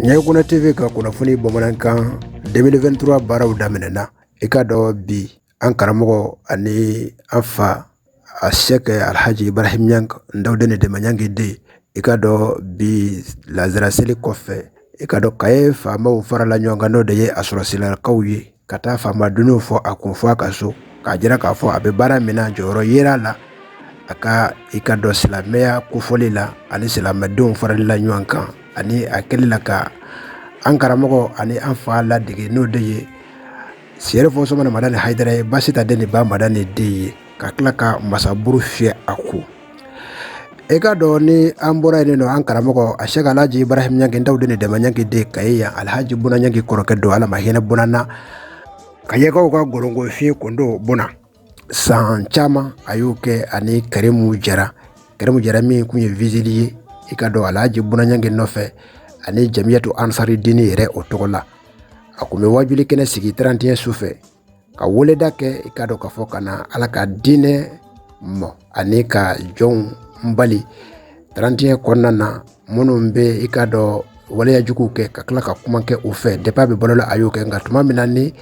ɲɛkuna tv ka kunnafoni bamanankan 2023 baaraw daminɛna i ka dɔ bi an karamɔgɔ ani an fa a sɛkɛ alhaji ibrahim ɲang ndawdene dema ɲang de i ka dɔ bi lazara seli kɔfɛ i ka dɔ kaye faamaw farala ɲɔgɔn kan n'o de ye a sɔrɔsilakaw ye ka taa faamadenw fɔ a kun fɔ a ka so k'a jira k'a fɔ a bɛ baara min na jɔyɔrɔ yira a la a ka i ka dɔn silamɛya kofɔli la ani silamɛdenw farali la ɲɔgɔn kan ani a kɛli la ka an karamɔgɔ ani an fa ladege n'o de ye serifu usumani madani hayidara ye basitan den ni ba madani den ye ka tila ka masaburu fiyɛ a ko i ka dɔn ni an bɔra yen nɔ an karamɔgɔ a sɛkɛ alhaji ibrahim ɲang ndawdene dema ɲang de kaye yan alhaji buna ɲang kɔrɔkɛ don ala ma hinɛ buna na kayekaw ka gkɔfi kɔdo buna san caman a y'o kɛ ani karimu jara karimu jara min tun ye vigile ye i ka dɔn alhaji buna ɲang nɔfɛ ani jamiyatu ansari dini yɛrɛ o tɔgɔ la a tun bɛ wajuli kɛnɛ sigi trantiɲɛ su fɛ ka weleda kɛ i ka dɔn k'a fɔ ka na ala ka diinɛ mɔ ani ka jɔnw bali trantiɲɛ kɔnɔna na minnu bɛ i ka dɔn waleyajugu kɛ ka tila ka kuma kɛ u fɛ depi a bɛ balo la a y'o kɛ nka tuma min na ni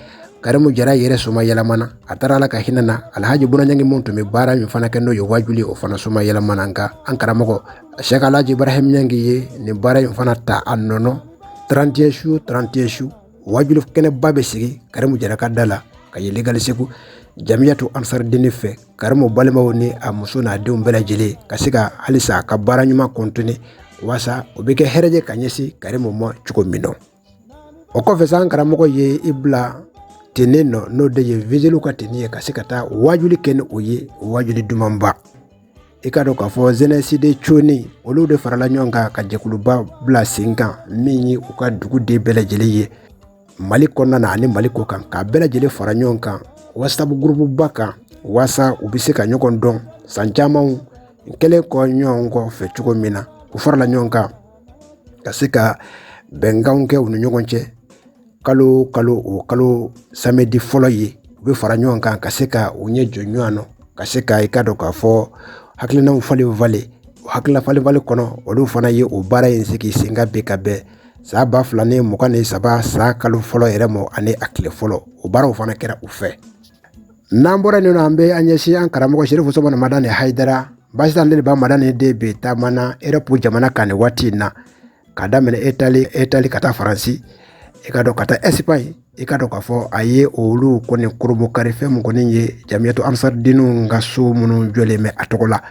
karimu jara yɛrɛ somayɛlɛmana a taara ala ka hinɛ na alhaji buna ɲang minnu tun bɛ baara min fana kɛ n'o ye wajuli o fana somayɛlɛmana nka an karamɔgɔ sɛkɛ alhaji ibrahim ɲang ye nin baara in fana ta a nɔ trantiɲɛ su trantiɲɛ su wajuli kɛnɛba bɛ sigi karimu jara ka da la kaye legali segu jamiyatu ansari dini fɛ karimu balimaw ni a muso n'a denw bɛɛ lajɛlen ka se ka halisa a ka baara ɲuman kɔntine walasa o bɛ kɛ hɛrɛjɛ ka ɲɛsin karimu ma cogo min na o kɔfɛ sa an karamɔgɔ ye i bila teni nɔ n'o de ye vigilew ka teni ye ka se ka taa wajuli kɛ ni o ye wajuli dumanba i ka dɔn k'a fɔ zɛnɛsi de coni olu de farala ɲɔgɔn kan ka jɛkuluba bila sen kan min ye u ka duguden bɛɛ lajɛlen ye mali kɔnɔna na ani mali kɔkan k'a bɛɛ lajɛlen fara ɲɔgɔn kan wasapu gurupuba kan walasa u bɛ se ka ɲɔgɔn dɔn san camanw kɛlen kɔ ɲɔgɔn kɔ fɛ cogo min na u farala ɲɔgɔn kan ka se ka bɛnkanw kɛ u ni ɲɔgɔn cɛ kalo kalo o kalo samɛdi fɔlɔ ye u bɛ fara ɲɔgɔn kan ka se ka u ɲɛ jɔ ɲɔgɔn na ka se ka i ka dɔn k'a fɔ hakilinaw falenfalen hakilina falenfalen kɔnɔ olu fana ye o baara in sigi sen kan ka bɛn san ba fila ni mugan ni saba san kalo fɔlɔ yɛrɛ ma ani a tile fɔlɔ o baaraw fana kɛra u fɛ n'an bɔra yen nɔ an bɛ an ɲɛsin an karamɔgɔ serifu usumani madani hayidara basitan den ba madani den bɛ taama na erɔpu jamana kan nin waati in na Ka daminɛ itali ka taa faransi i ka dɔn ka taa ɛsipaɲi i ka dɔn k'a fɔ a ye olu kɔni kurunbonkari fɛn min kɔni ye jamiyatu ansari diniw ka so minnu jɔlen bɛ a tɔgɔ la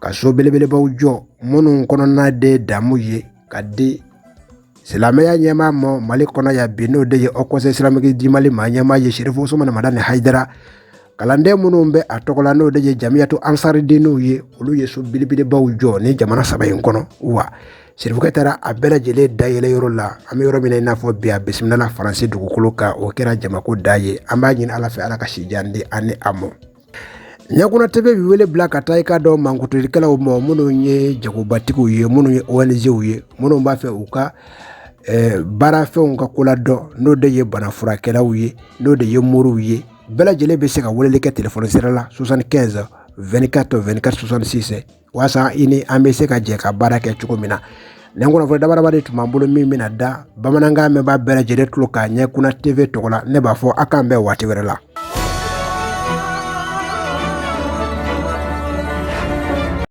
ka so belebelebaw jɔ minnu kɔnɔna de damu ye ka di silamɛya ɲɛmaa ma mali kɔnɔ yan bi n'o de ye haut conseil islamique du mali maa ɲɛmaa ye serifu usumani madani hayidara kalanden minnu bɛ a tɔgɔ la n'o de ye jamiyatu ansari diniw ye olu ye so belebelebaw jɔ ni jamana saba in kɔnɔ wa serifukɛ taara a bɛɛ lajɛlen dayɛlɛ yɔrɔ la an bɛ yɔrɔ min na i n'a fɔ bi a bisimilala faransi dugukolo kan o kɛra jamako da ye an b'a ɲini ala fɛ ala ka sijan di ani a mɔ ɲɛkunna tv bɛ wele bila ka taa i ka dɔn mankutulikɛlaw ma minnu ye jagobatigiw ye minnu ye ONGw ye minnu b'a fɛ u ka baarafɛnw ka ko ladɔn n'o de ye banafurakɛlaw ye n'o de ye moriw ye bɛɛ lajɛlen bɛ se ka weleli kɛ telefɔni sira la soixante quinze vingt quatre vingt quatre soixante six walasa i ni an bɛ se ka jɛ ka baara kɛ cogo min na nin kunnafoni dabaraba de tun b'an bolo min bɛna da bamanankan mɛnbaa bɛɛ lajɛlen tulo kan ɲɛkunna tv tɔgɔ la ne b'a fɔ aw k'an bɛn waati wɛrɛ la